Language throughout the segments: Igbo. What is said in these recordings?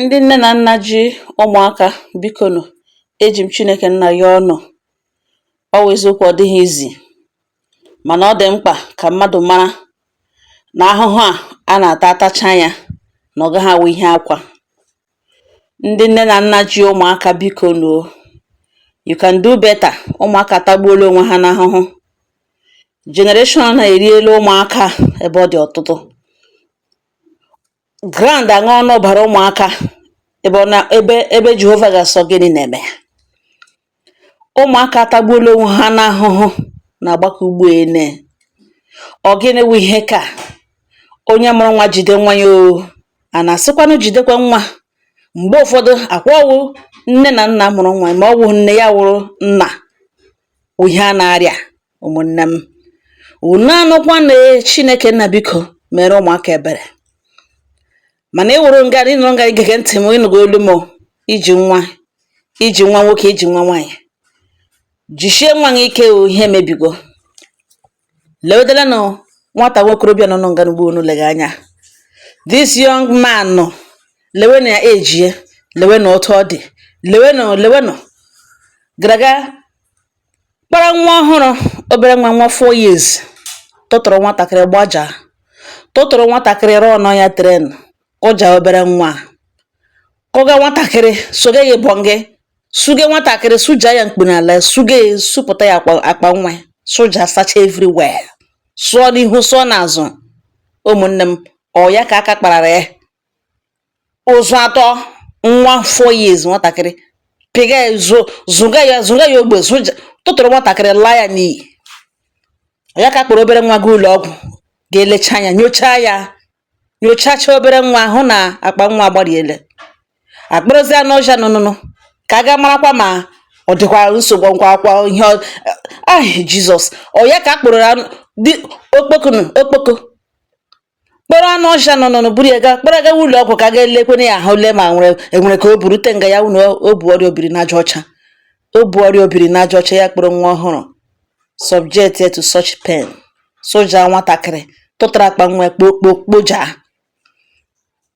Ndị nne na nna ji ụmụaka, biko nụ, eji m Chineke nna ayọ unu. Ọ wụ eziokwu ọ dịghị easy, mana ọ dị mkpa ka mmadụ mara na ahụhụ a a na-ata atacha ya na ọ gaghị awụ ihe akwa. Ndị nne na nna ji ụmụaka, biko nụ, you can do better. Ụmụaka atagbuola onwe ha n'ahụhụ. Generation a eriela ụmụaka ebe ọ dị ọtụtụ. Ground aṅụọna ọbara ụmụaka ebe ọ na ebe ebe Jehova ga-asị ọ gịnị na-eme ya ụmụaka atagbuola onwe ha n'ahụhụ na agbakọ ugbo ene ọ gịnị wụ ihe ka onye mụrụ nwa jide nwa ya o a na-asịkwanụ jidekwa nwa mgbe ụfọdụ ọkwa ọ wụ nne na nna mụrụ nwa ma ọ wụghị nne ya wụrụ nna wụ ihe a na-arịa ụmụnne m unu anụkwana chineke nna biko mere ụmụaka ebere mana ị wụrụ nga ị nọrọ nga ị gege ntị m ị nụgo olu m i ji nwa i ji nwa nwoke i ji nwa nwaanyị jichie nwa gị ike o ihe mebigo lewedelenụ nwata nwokorobịa nọ nga n'ugbo unu lega anya this young man nọ lewenụ ya ejie lewenụ otu ọ dị lewenụ lewenụ gara ga kpara nwa ọhụrụ obere nwa nwa four years tụtụrụ nwatakịrị gbaja tụtụrụ nwatakịrị run-ụọ ya train kụja obere nwa kụga nwatakịrị sụga ya ịbọ gị suge nwatakịrị sụja ya mkpu n'ala suge ya sụpụta ya akpa nwa sụja sacha everywhere sụọ n'ihu sụọ n'azụ ụmụnne m ọ ya ka aka kparara ya ụzụ atụọ nwa four years nwatakịrị pịga ya zo zụga ya zụga ya ogbe zụja tụtụrụ nwatakịrị laa ya n'iyi ọ ya ka a kpọrọ obere nwa ga ụlọ ọgwụ ga-elecha ya nyochaa ya nyochacha obere nwa hụ na akpa nwa agbariele a kpọrọzie anụ ọhịa nụnụnụ ka a ga marakwa ma ọ dịkwa nsogbu nkwa akwa ihe ahụ jizọs ọ ya ka a kpọrọ okpokonu okpoko kpọrọ anụ ọhịa nụnụ buru ya gaa kpọrọ ya gawa ụlọ ọgwụ ka a ga-elekwanụ ya ahụ lee ma nwere e nwere ka o burute nga ya wụ na o bu ọrịa obiri n'aja ọcha o bu ọrịa obiri n'aja ọcha ya kpọrọ nwa ọhụrụ subject ya to such pain sụja nwatakịrị tụtara akpa nwa kpokpo kpoja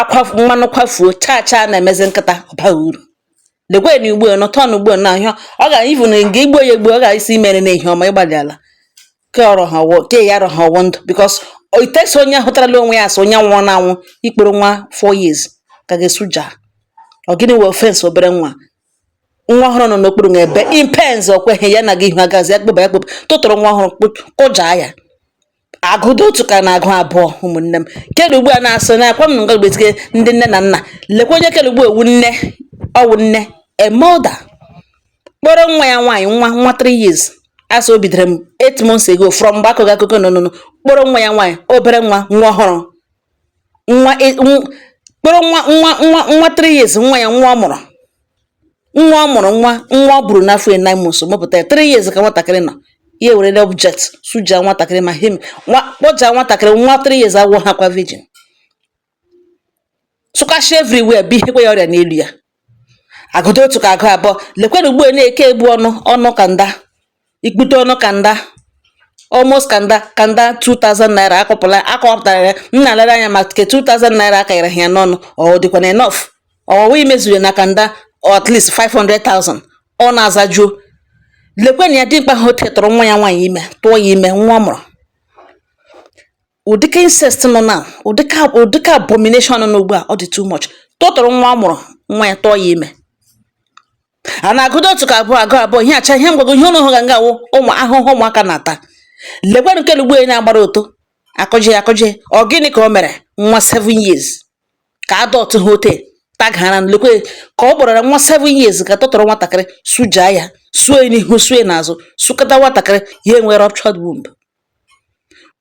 akwa mmanụ kwafuo chaa chaa na-emezi nkịta ọ baghị uru lekwe na ugbo nọ tọn ugbo na ahịa ọ ga ivu na nga i gbuo ya egbu ọ ga-asị i mere na ihe ọma ịgbalị ala ke ọrọ ha ọwọ ke ya arọ ha ọwọ ndụ because itesi onye hụtarala onwe ya asị onye nwụrụ na anwụ ị kpọrọ nwa four years ga ga-asụja ọ gịnị wụ offence obere nwa nwa ọhụrụ nọ n'okpuru na ebe impens ọ kweghị ya na gị ihu agazi akpụba ya kpụba tụtụrụ nwa ọhụrụ kụjaa ya agụdo otu ka na-agụ abụọ ụmụnne m kedụ ugbu a na-asụ na akwa m na nga gbetike ndị nne na nna lekwa onye kedụ ugbu ọwụ nne ọwụ nne a mother kpọrọ nwa ya nwaanyị nwa nwa 3 years asị o bidoro m 8 months ago from mgbe akụkọ akụkọ nọ nụnụ kpọrọ nwa ya nwaanyị obere nwa nwa ọhụrụ nwa e, kpọrọ nwa three years nwa ya nwa ọ mụrụ nwa ọ mụrụ nwa nwa o buru n'afọ ya nine months mụpụta ya three years ka nwatakịrị nọ ya ewerele object suja nwatakịrị ma kpọja nwatakịrị nwa three years agwọ ha kwa virgin sụkasha everywhere buhekwa ya ọrịa n'elu ya agụdo otu ka agụ abụọ lekwanụ ugbu a na-eke egbu ọnụ ọnụ kanda ikpute ọnụ kanda almost kanda kanda 2000 naira akọpụla akọpụtara ya m na-alere anya ma ke 2000 naira akanyere ya n'ọnụ ọ dịkwana enough ọwụwa i measure na kanda at least 500,000 ọnụ azajuo lekwenụ ya dimkpa ha otu a tụrụ nwa ya nwaanyị ime tụọ ya ime nwa ọ mụrụ ụdịka incest nọ na ụdịka ụdịka abomination nọ n'ugbu a ọ dị too much tụtụrụ nwa ọ mụrụ nwa ya tụọ ya ime a na-agụdo otu ka abụọ agụ abụọ ihe acha ihe mgbago ihe ụnụ hụga nga awụ ụmụ ahụhụ ụmụaka na-ata lekwanụ nke ugbu a na a gbara ọtọ akụjie akụjie ọ gịnị ka o mere nwa 7 years ka adult ha otu a gara lekwe ka ọ kpọrọ nwa 7 years ka tụtụrụ nwatakịrị sujaa ya sue n'ihu sue n'azụ sukata nwatakịrị ya enwe ruptured womb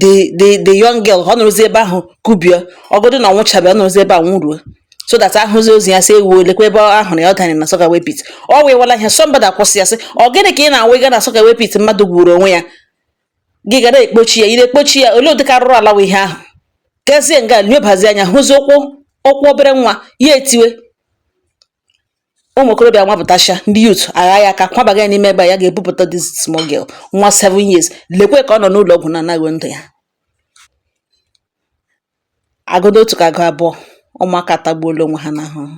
the the the young girl ọ nọrọzi ebe ahụ kubie ọgọdụ na ọ nwụchabe ọ nọrọzi ebe a nwụruo so that ahụzi ozu ya sị ewu lekwa ebe ahụ na ya ọ danyere na soakaway pit ọ wewala ihe somebody akwụsị ya sị ọ gịnị ka ị na-awụ ịga na soakaway pit mmadụ gwuru onwe ya gị ga na-ekpochi ya ị na-ekpochi ya olee ụdịka arụrụ ala wụ ihe ahụ gazie nga nyobazi anya hụzi ụkwụ ụkwụ obere nwa ya etiwe ụmụ okorobịa nwapụtacha ndị youth agha ya aka kwabaga ya n'ime ebe ya ga-ebupụta this small girl nwa 7 years lekwe ka ọ nọ n'ụlọ ọgwụ na a na-achọ ndụ ya agụdo otu ka agụ abụọ ụmụaka atagbuola onwe ha n'ahụhụ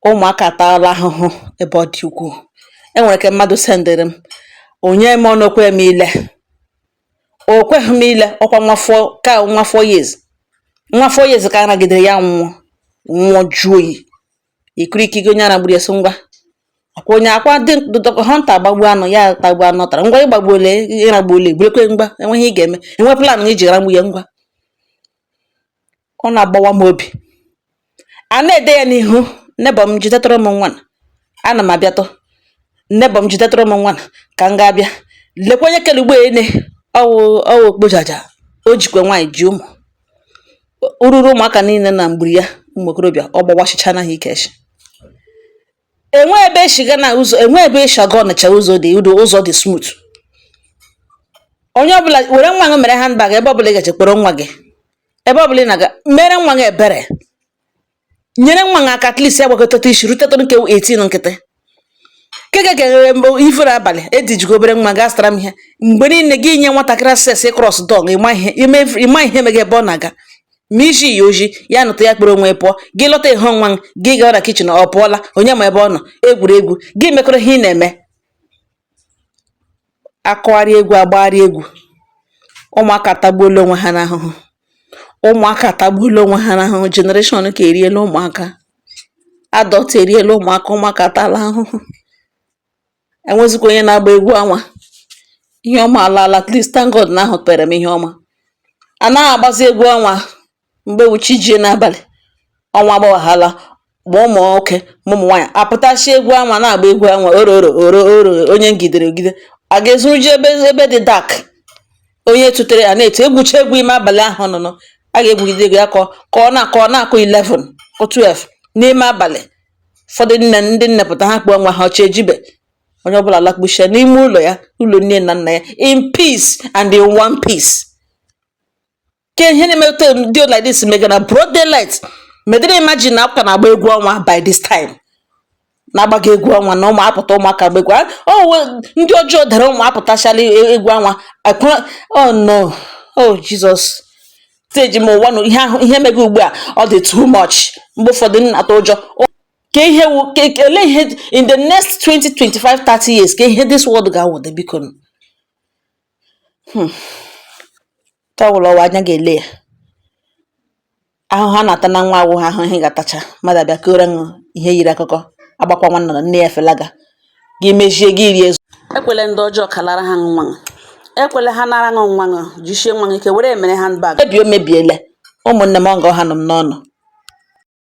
ụmụaka ataala ahụhụ ebe ọ dị ukwuu enwere nke mmadụ sendịrị m onye m ọnụ o kwe m ile O kweghị m ile ọkwa nwa four years nwa four years ka a nagidere ya nwụọ nwụọ jụọ oyi ikiri ike gị onye a ragburu ya sị ngwa akwa onye akwa dị dọkọ hunter agbagbu anụ ya tagbu anụ tara ngwa ị gbagbuole ị ragbuole gburekwe ngwa enwe ihe ị ga-eme enwe plan iji ragbu ya ngwa ọ na-agbawa m obi a na-ede ya n'ihu neighbour m jidetụrụ m nwa a ana m abịatụ neighbour m jidetụrụ m nwa a ka m ga-abịa lekwa onye kere ugbo ene ọwụ ọwụ okpojaja o jikwa nwaanyị ji ụmụ ururu ụmụaka niile na mgburi ya ụmụ okorobịa ọ gbawachichaala ha ike nshị enwe ebe eshiga na ụzọ enwe ebe eshiga ọnịcha ụzọ dị udo ụzọ dị smooth onye ọbụla were nwa gị mere handbag ebe ọbụla ị gaje kpọrọ nwa gị ebe ọbụla ị na-aga mere nwa gị ebere nyere nwa gị aka at least ya gbakọtata isi rutetara nke 18 nkịtị nke ga-eghere mgbe ifere abalị edijigo obere nwa gaa zụtara m ihe mgbe niile gị nye nwatakịrị access ị cross dog ịma ihe ime- ịma ihe mega ebe ọ na-aga ma izi ya ozi ya nụta ya kpụrụ onwe pụọ gị lọta ehe nwa gị gawa na kitchen ọ pụọla onye ma ebe ọ nọ egwuregwu gị mekọrọ ihe ị na-eme akụgharị egwu agbagharị egwu ụmụaka atagbuola onwe ha n'ahụhụ ụmụaka atagbuola onwe ha n'ahụhụ generation ka eriela ụmụaka adult eriela ụmụaka ụmụaka atala ahụhụ E nwezikwa onye na-agba egwu ọnwa. Ihe ọma alaala. At least thank God na ahụpeere m ihe ọma. A naghị agbazi egwu ọnwa mgbe wụ chi jie n'abalị, ọnwa agbawaghala ma ụmụ nwoke ma ụmụ nwaanyị apụtachie egwu ọnwa na-agba egwu ọnwa oro oro oro oro onye ngidere ogide a ga-ezoro ji ebe ebe dị dark onye tụtere a na-etu egwucha egwu ime abalị ahụ nọ nọ a ga-egwugide egwu ya ka ọ ka ọ na-akụ ọ na-akụ 11 kụ 12 n'ime abalị ụfọdụ nne ndị nne pụta ha kpọọ nwa ha chi ejibe onye ọbụla alakpuchia n'ime ụlọ ya ụlọ nne na nna ya in peace and in one piece ke ihe na-emeta dị like this mega na broad daylight medịrị imagine na a ka na-agba egwu ọnwa by this time na-agbaga egwu ọnwa na ụmụ apụta ụmụaka gba egwu oh, ndị ọjọọ dara ụmụ apụtachala e, egwu ọnwa oh no oh Jesus steji m ụwa na ihe ahụ ihe mega ugbu a ọ dị too much mgbe ụfọdụ m na-atụ ụjọ ka ihe wu ka ka- olee ihe in the next 20 25 30 years ke ihe this world ga-awụde biko nwata ọwụla ọ wụ anya ga-ele ya ahụhụ a na-ata na nwa awụghị ahụhụ ị ga-atacha mmadụ abịa kọọrọ ṅụ ihe yiri akụkọ agbakwa nwanna na nne ya felaga gị mezie gị rie ekwele ndị ọjọọ kalara ha nwa ekwele ha nara ṅụ nwa ṅụ jishie nwa ike were emere handbag ebe emebiele ụmụnne m ọ nga ọ ha nọ m n'ọnụ